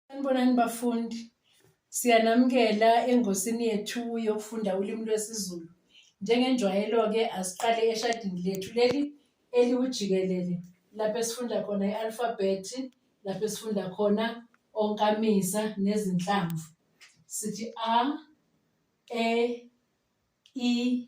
Sanibonani bafundi. Siyanamukela engosini yethu yokufunda ulimi lwesiZulu. Njengenjwayelo-ke asiqale eshadini lethu leli eliwujikelele lapho esifunda khona i-alfabhethi, lapho esifunda khona onkamisa nezinhlamvu. Sithi a, e, i,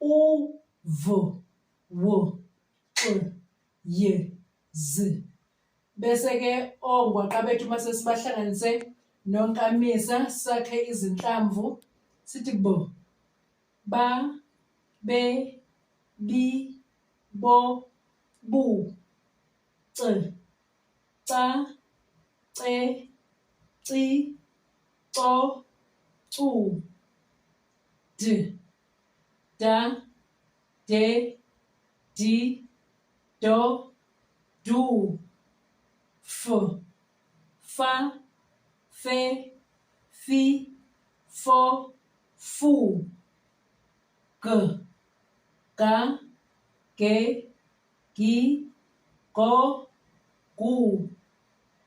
u v w x y z bese ke ongwaqa bethu uma sesibahlanganise nonkamisa sakhe izinhlamvu sithi bo ba be bi bo bu c ca ce ci co cu d da de di do du f fa fe fi fo fu g ga ge gi go gu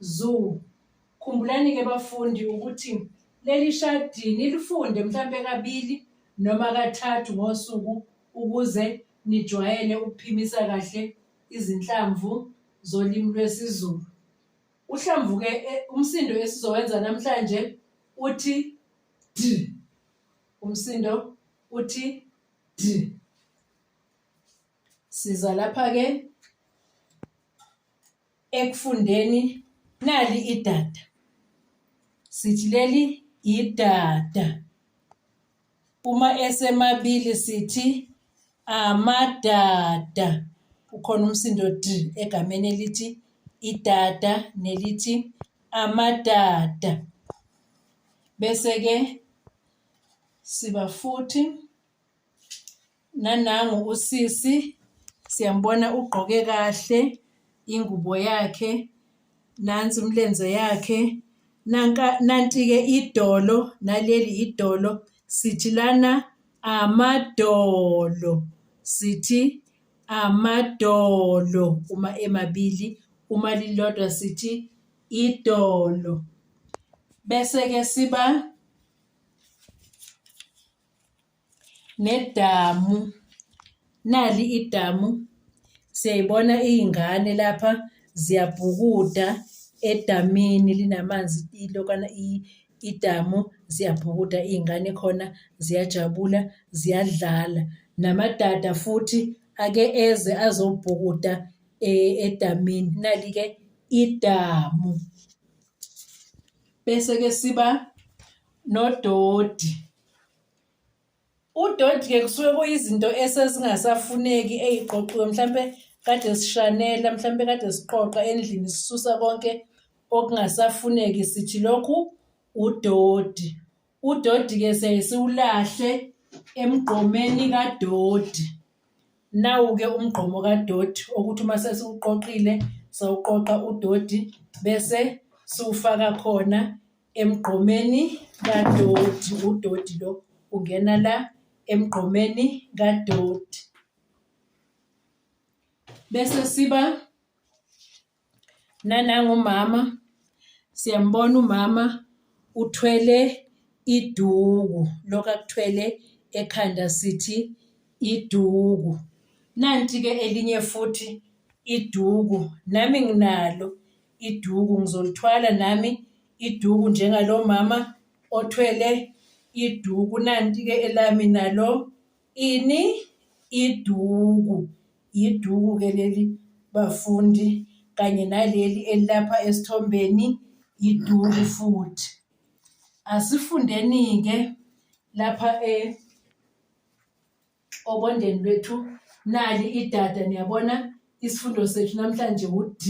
Zoo. Khumbulani-ke bafundi ukuthi leli shadi nilifunde mhlampe kabili noma kathathu ngosuku ukuze nijwayele ukuphimisa kahle izinhlamvu zolimi lwesiZulu. Uhlamvuke e, umsindo esizowenza namhlanje uthi d. Umsindo uthi d. Siza lapha-ke ekufundeni nali idada sithi leli idada uma esemabili sithi amadada ukhona umsindo d egameni elithi idada nelithi amadada bese-ke siba futhi nanangu usisi siyambona ugqoke kahle ingubo yakhe nansi umlenze yakhe nanka nanti-ke idolo naleli idolo sithi lana amadolo sithi amadolo uma emabili uma lilodwa sithi idolo bese-ke siba nedamu nali idamu siyayibona iy'ngane lapha ziyabhukuda edamini linamanzi ilokana idamu ziyabhukuda iy'ngane khona ziyajabula ziyadlala namadada futhi ake eze azobhukuda e, edamini nali-ke idamu bese-ke siba nododi udodi ke kusuke kuyizinto esezingasafuneki eyiqoqiwe mhlampe kade sishanela mhlampe kade siqoqa endlini sisusa konke okungasafuneki sithi lokhu udodi udodi ke siyaye siwulahle emgqomeni kadodi nawu-ke umgqomo kadoti okuthi uma sesiwuqoqile sawuqoqa udoti bese siwufaka khona Emgqomeni kadoti, udoti lo ungena la emgqomeni kadoti. Bese siba nanangumama, siyambona umama uthwele iduku, lokhu akuthwele ekhanda sithi iduku. Nanti-ke elinye futhi iduku, nami nginalo. iduku ngizolithwala nami iduku njengalo mama othwele iduku nanti-ke elami nalo ini iduku yiduku-ke leli bafundi kanye naleli elilapha esithombeni yiduku futhi asifundeni-ke lapha e obondeni lwethu nali idada niyabona isifundo sethu namhlanje wud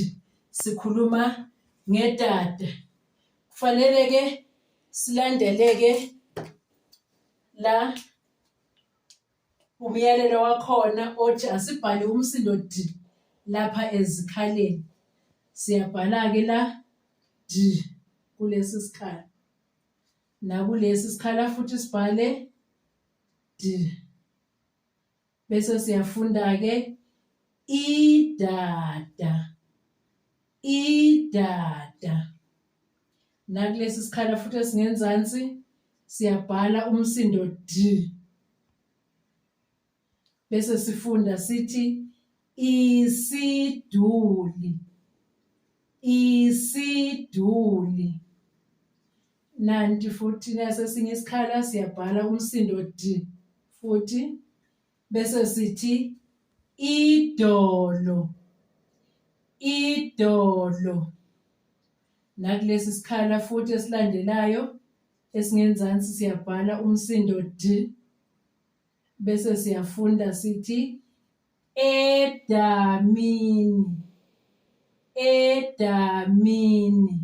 sikhuluma ngedada kufanele ke silandeleke la umyalelo wakhona othi asibhale umsindo d lapha ezikhaleni siyabhala ke la d kulesi sikhala nakulesi sikhala futhi sibhale bese siyafunda ke idada idada nakulesi sikhala futhi esingenzansi siyabhala umsindo d bese sifunda sithi isiduli isiduli Nanti futhi nasesinye isikhala siyabhala umsindo d futhi bese sithi idolo idolo nakulesi sikhala futhi esilandelayo esingenzansi siyabhala umsindo d bese siyafunda sithi edamini edamini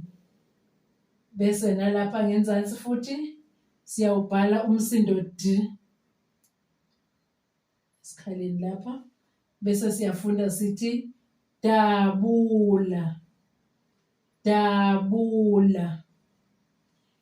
bese nalapha ngenzansi futhi siyawubhala umsindo d esikhaleni lapha bese siyafunda sithi dabula dabula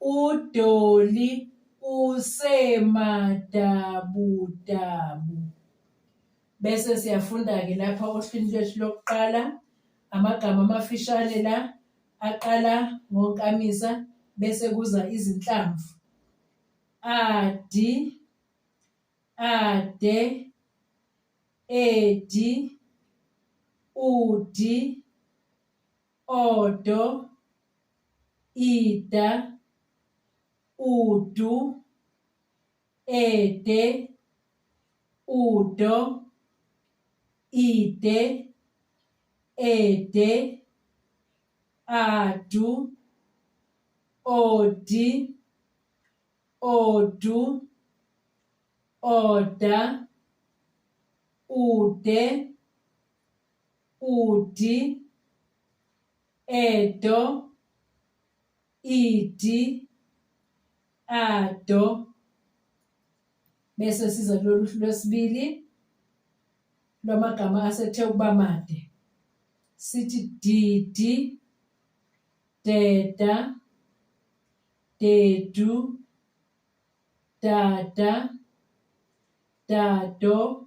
UDolly usemadabudabu. Bese siyafunda-ke lapha ohlwini lwethu lokuqala amagama amafishane la aqala ngonkamisa bese kuza izinhlamvu. Adi, ade, edi, udi, odo, ida, udu, ede, udo, ide, ede, adu, odi, odu, oda, ude, udi edo idi ado bese siza kulolu hlu lwesibili lwamagama asethe ukuba made sithi didi deda dedu dada dado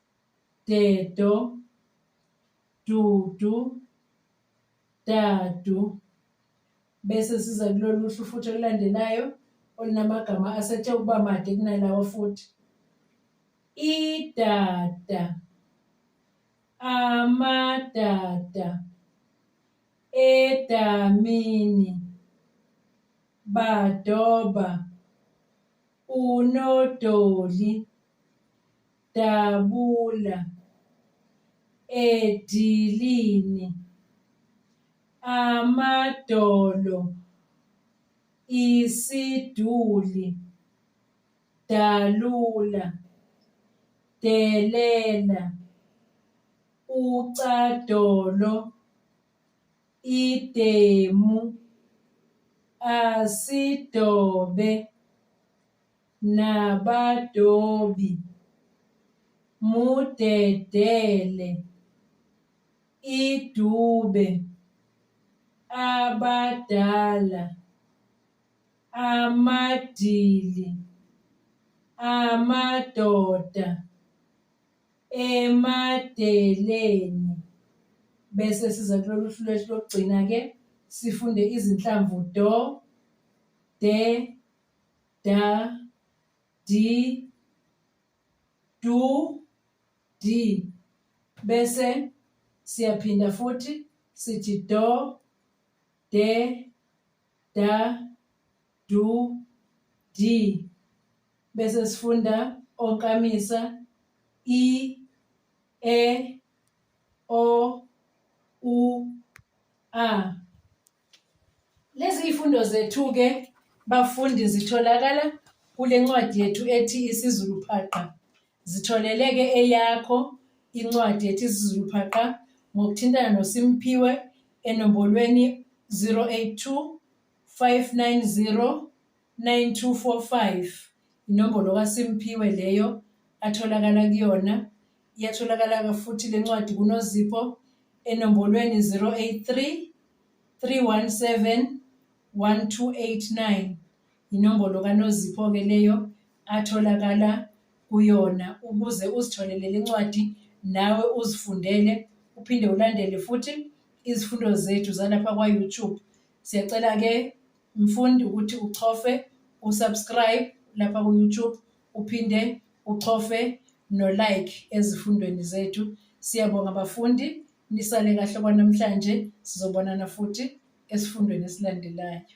dedo, dudu, dadu. Bese siza kulolu hlu futhi olulandelayo olunamagama asethe ukuba made kunalawo futhi. Idada, amadada, edamini, badoba, unodoli. dabula edilini amadolo isiduli dalula delela ucadolo idemu asidobe nabadobi mudedele idube abadala amadili amadoda emadeleni bese siza kulolu hlu lwethu lokugcina ke sifunde izinhlamvu do de da, di, du, di. Bese siyaphinda futhi sithi do, de, da, du, di. Bese sifunda onkamisa i, e, o, u, a. Lezi ifundo zethu-ke bafundi zitholakala kule ncwadi yethu ethi isiZulu Phaqa. Zitholeleke eyakho incwadi ethi isiZulu Phaqa ngokuthintana noSimphiwe enombolweni 082 590 9245 inombolo kaSimphiwe leyo atholakala kuyona. Iyatholakala-ke futhi le ncwadi kuNozipho enombolweni 083 317 1289 inombolo kaNozipho-ke leyo atholakala kuyona ukuze uzitholele le ncwadi nawe uzifundele uphinde ulandele futhi izifundo zethu zalapha kwa-YouTube. Siyacela-ke Mfundi ukuthi uchofe usubscribe lapha ku-YouTube uphinde uchofe no-like ezifundweni zethu. Siyabonga bafundi, nisale kahle kwanamhlanje. Sizobonana futhi esifundweni esilandelayo.